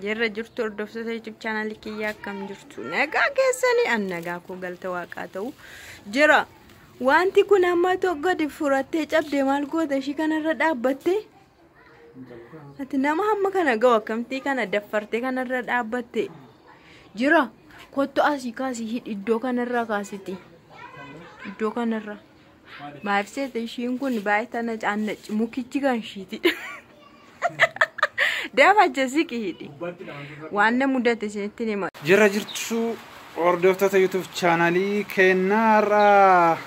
Jirra jirtu hordoftoota YouTube channel kiyyaa akkam jirtu nagaa keessanii an nagaa koo galata waaqaa ta'u jira wanti kun amma tokko gadi furattee cabde maal goota ishii kanarra dhaabbatte ati nama hamma kana ga'u akkamtii kana daffartee kanarra dhaabbatte jira kottu asii kaasii hidhi iddoo kanarraa kaasiti iddoo kanarraa. Maal seete ishiin kun baay'ee tana caannacci mukichi kan ishiiti. Dafa jesi qihidi. Wanna mudate isinitti nima. Jira jirtu hordoftoota YouTube chaanalii keenyaarraa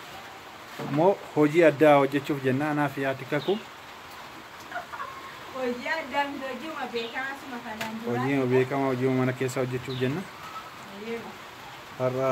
immoo hojii addaa hojjechuuf jenna anaa fi haati kakuu Hojii addaa miti hojiuma beekamaa suma kanaan duraa. hojii beekamaa hojii mana keessaa hojjechuuf jenna Eeyyee. har'a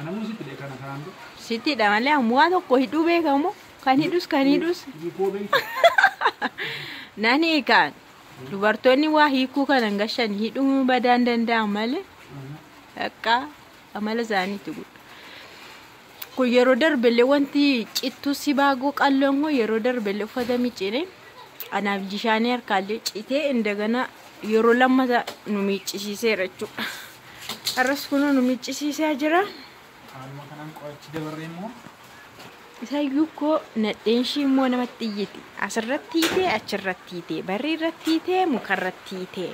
Anamuu sitti dhe kana kanaan dura. Sitti dha malee ammoo waa tokko hidhuu beekamu kan hidhus kan hidhus Hiikoo beektu. nan hiikaan dubartoonni waa hiikuu kan hangashan hidhuu badaan danda'an malee akka amala isaaniitti gudda. Kun yeroo darbellee wanti cittuu sibaagoo qalloon kun yeroo darbellee uffata miccine anaaf jishaanii harkaallee citee indagana yeroo lammata nu miiccisiiseera jechuudha. Har'as kunoo nu miiccisiisaa jira. Haaluma kanaan qorachi dabarree immoo Isayyuu koo nadheen ishii immoo namatti iyyiti. Asirratti hiitee achirratti hiitee barrii irratti hiitee mukarratti hiitee.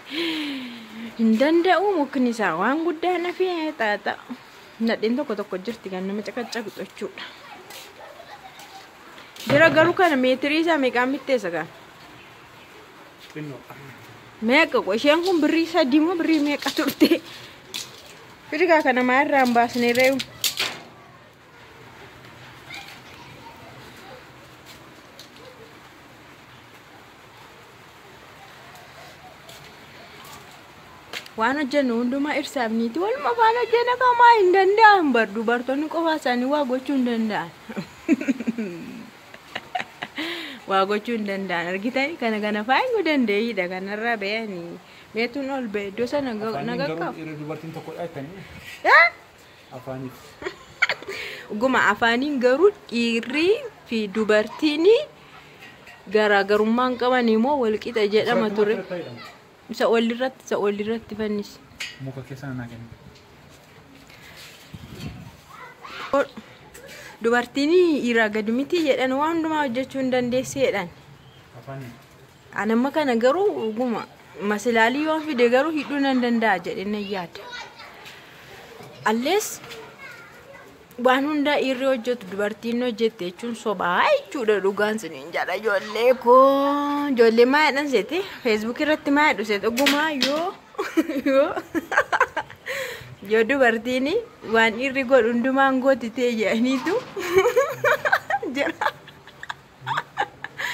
Hin danda'u mukni isaa waan guddaa nafee xaaxa. Nadheen tokko tokko jirti kan nama caqacaqxu jechuudha. Jira garuu kana meetirii isaa meeqaan bitteessa kan? Xinnoo. Meeqa qo isheen kun birrii sadii moo birrii meeqa turte? Firigaa kana maa irraa hin baasne reewu? waan hojjennu hundumaa irsaaf niiti waluma afaan hojjenna kamaa hin danda'an bar dubartoonni qofaa isaanii waa gochuu hin danda'an waa gochuu hin danda'an argitani kana kana faayuu dandeeyidha kanarraa beeyanii meetuun ol bee iddoo sana na Afaan hin garuu qaqqabu. dhiirri dubartiin tokkodha jettanii. Eh? Afaaniif. Dhuguma afaaniin garuu dhiirrii fi dubartiin garaagarummaa hin qaban immoo walqixa jedhama ture. Isa olirratti isa olirratti fannisi. Muka keessa nanaa kennu. Dubartiin dhiiraa gadi miti jedhan waan hundumaa hojjechuu hin dandeessi jedhan. Afaaniif. An amma kana garuu dhuguma masilaalii yoon fide garuu hidhuu nan danda'a jedhee nan yaada. Allees waan hundaa dhiirri hojjetu dubartiin hojjette jechuun sobaa jechuudha dhugaan siniin jedha ijoollee koo ijoollee maa jedhan seete feesbuuk irratti maa jedhu seete dhugumaa yoo yoo yoo dubartiin waan dhiirri godhu hundumaan gootitee jedhaniitu jira.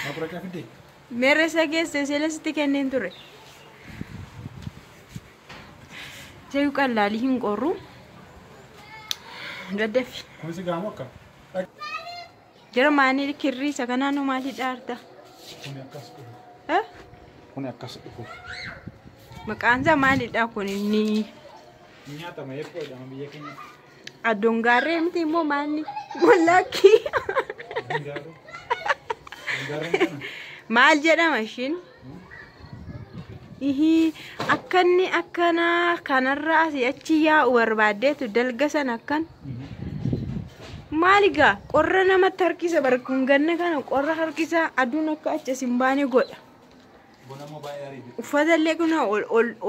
Makuracaa fiddee? Meerreessa geesse isheen sitti kenneen ture. Jayu qallaalii hin qorru. Daddafi. Kun si gaamu akka? Jara maanii kirrii isa kanaanuu maalii dhaarta? Kun akkas dhufu. Eh? Kun akkas dhufu. Maqaan isaa maalidha kun inni? Nyaatama eebboo jedhama biyya keenyatti. Addoon gaarree miti immoo maalni? Wallaakkii. Maal jedhama ishiin? Ihii akkanni akkanaa kanarra asii achi yaa'u barbaaddeetu dalga san akkan. Maali gaa qorra namatti harkisa barkun ganna kana qorra harkisa aduun akka achi isin baane godha. Uffata illee kun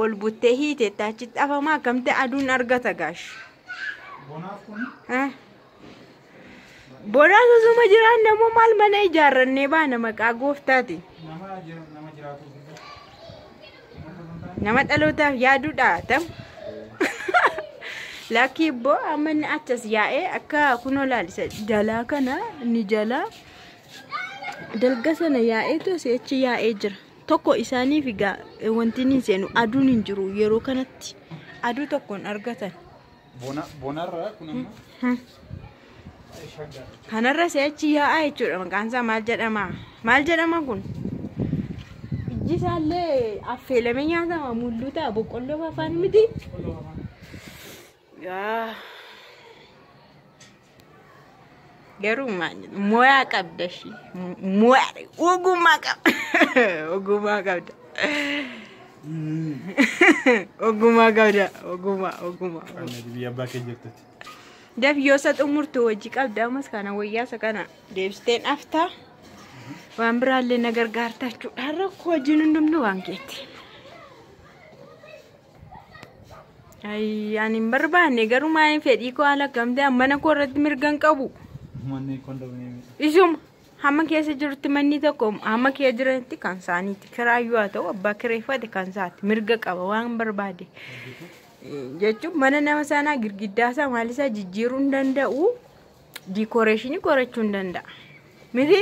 ol buttee hiiteetti achitti afama akkamti aduun argata gaash. Bonaa sosoma jiraan namoo maal mana ijaarrannee baana maqaa gooftaati. Nama dhalootaaf yaaduudha tam. Lakkii ibboo amma inni achas yaa'ee akka kunoo laalisa jalaa kana ni jalaa. Dalga sana yaa'eetu asii achi yaa'ee jira. Tokko isaaniif egaa wanti inni hin seenu aduun hin jiru yeroo kanatti aduu tokkoon argatan. Bona bonarra kun amma shaggaa. Kanarra asii achi yaa'aa jechuudha maqaan isaa maal jedhama? Maal jedhama kun? Ijji isaallee affeelamee nyaatama mulluuta boqqolloo afaan miti. Qoloo afaan. Yaa. Garuu maal jedhu moyaa qabda ishii moyaa ogummaa qabda ogummaa qabda ogummaa qabda ogummaa ogummaa. Biyya abbaa kee jirtutti. Dafiyyoosa xumurtu hojii qabda ammas kana wayyaasa kana deebisteen aftaa waan biraallee na gargaarta jechuudha rakkoo hojiin hundumtuu waan keetti. Ayii ani hin barbaanne garuu maaliin fedhii koo haala akkamtee ammana koo irratti mirga hin qabu. Manni kondominiyeemii. Isuma hamma keessa jirutti manni tokko hamma kee jiranitti kan isaaniiti. Kiraayyuu haa ta'u abbaa kireeffate kan isaati. Mirga qaba waan barbaade. Jechuun mana nama sanaa girgiddaa isaa maal isaa jijjiiruu hin danda'u. Diikooreeshinii qorachuu hin danda'a. Miti?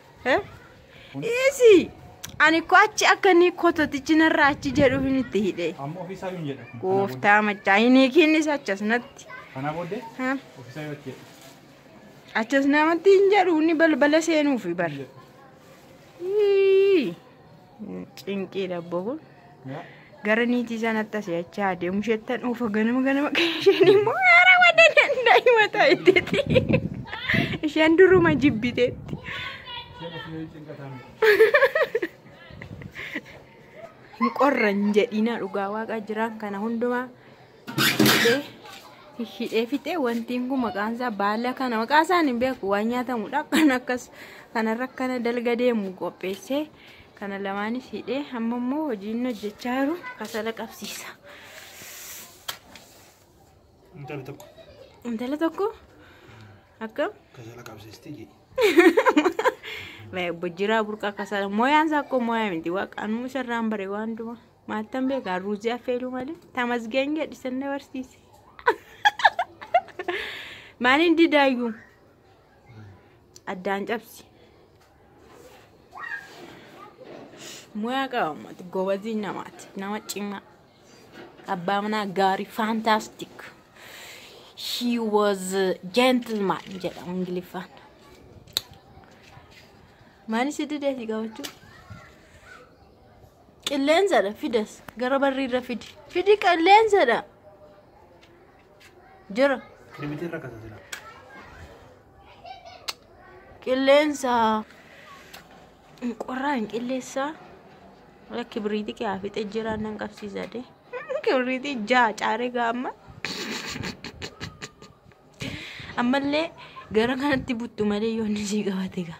Dhiisi! Ani ko achi akka inni kototichi narraa achi jedhuuf inni itti hidhe. Amma ofiisaa hin jedha. Gooftaa machaa hin hiikiinnis achas natti. Kanaa booddee Ha? ofiisaa yoo jedhu. Achas namatti hin jedhu inni balbala seenuufi bar. Ii! Cinqiidha abboo kun. Gara niitii isaa natti asii achi haa deemu jettan oofa ganama ganama kan isheen immoo haara wada danda'e mataa itteetti. Isheen duruma jibbiteetti. Hin qorran jedhiina dhugaa waaqa jiraan kana hundumaa hidhee fixee wantiin kun maqaan isaa baala kana maqaa isaan hin beeku waan nyaatamudha kan akkas kanarra akkana dalga deemu qopheessee kana lamaanis hidhee amma immoo hojiin hojjechaa jiru kasala qabsiisa. Intala tokko Intala tokko akkam kasala qabsiisti jedhi. bojjiraa burqaa kasala mooyaan isaa akkoo mooyaa miti waaqaanuu isarraan bare waan dumaa. Maaltan beekaa ruuzii affeeluu malee tamasgeen jedhisan na barsiise. Maaliin didaayyuu addaan cabsi. Muyaa qaba uummata gobazii namaati nama cimaa abbaa manaa gaarii fantastic. He was a gentleman jedhamu ingiliffaan. Maaliif si didee si qabachuu? Qilleensadha fidas gara barriirra fidi. Fidi qilleensadha. Jira. Kiribitiin rakkata jira. Qilleensa. Qorraan qilleensa. Wala kibriitii kee haa fixee jira nan qabsiisa de. Kibriitii ja'a caaree gaamma. Ammallee gara kanatti buttu malee yoonni sii qabate gaa.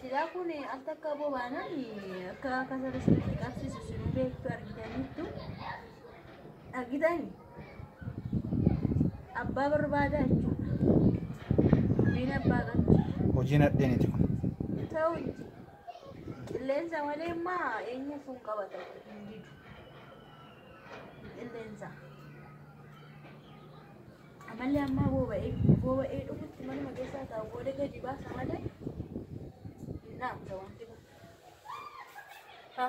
Silaa kun akka akka aboo baanaan akka akka sirri sirriitti qabsiisu sinuu beektu argitaniittu argitani abbaa barbaada jechuudha. Dubbiin abbaa qabdi. Hojii nadheeniti kun. Ta'u itti qilleensa malee immaa eenyu kun qabata hin didu. Qilleensa. Ammallee ammaa boba'ee boba'ee dhumutti manuma keessaa taa'u booda gadi baasa malee hin dhaamta wanti kun. Ha.